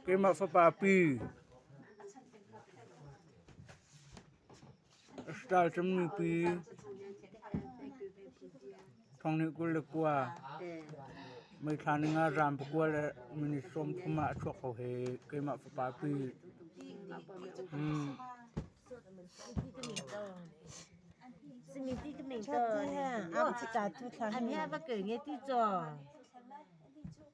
Keimah fapa pi a ral ṭammi pi Thongnih kul le kua meithla ning ah raam pakua le minit sawm thum ah a chuak ko he keimah fapa pi Ṭhat tu ha am chi ta tu thla ha mi. Ami ha va kei nge ti cho.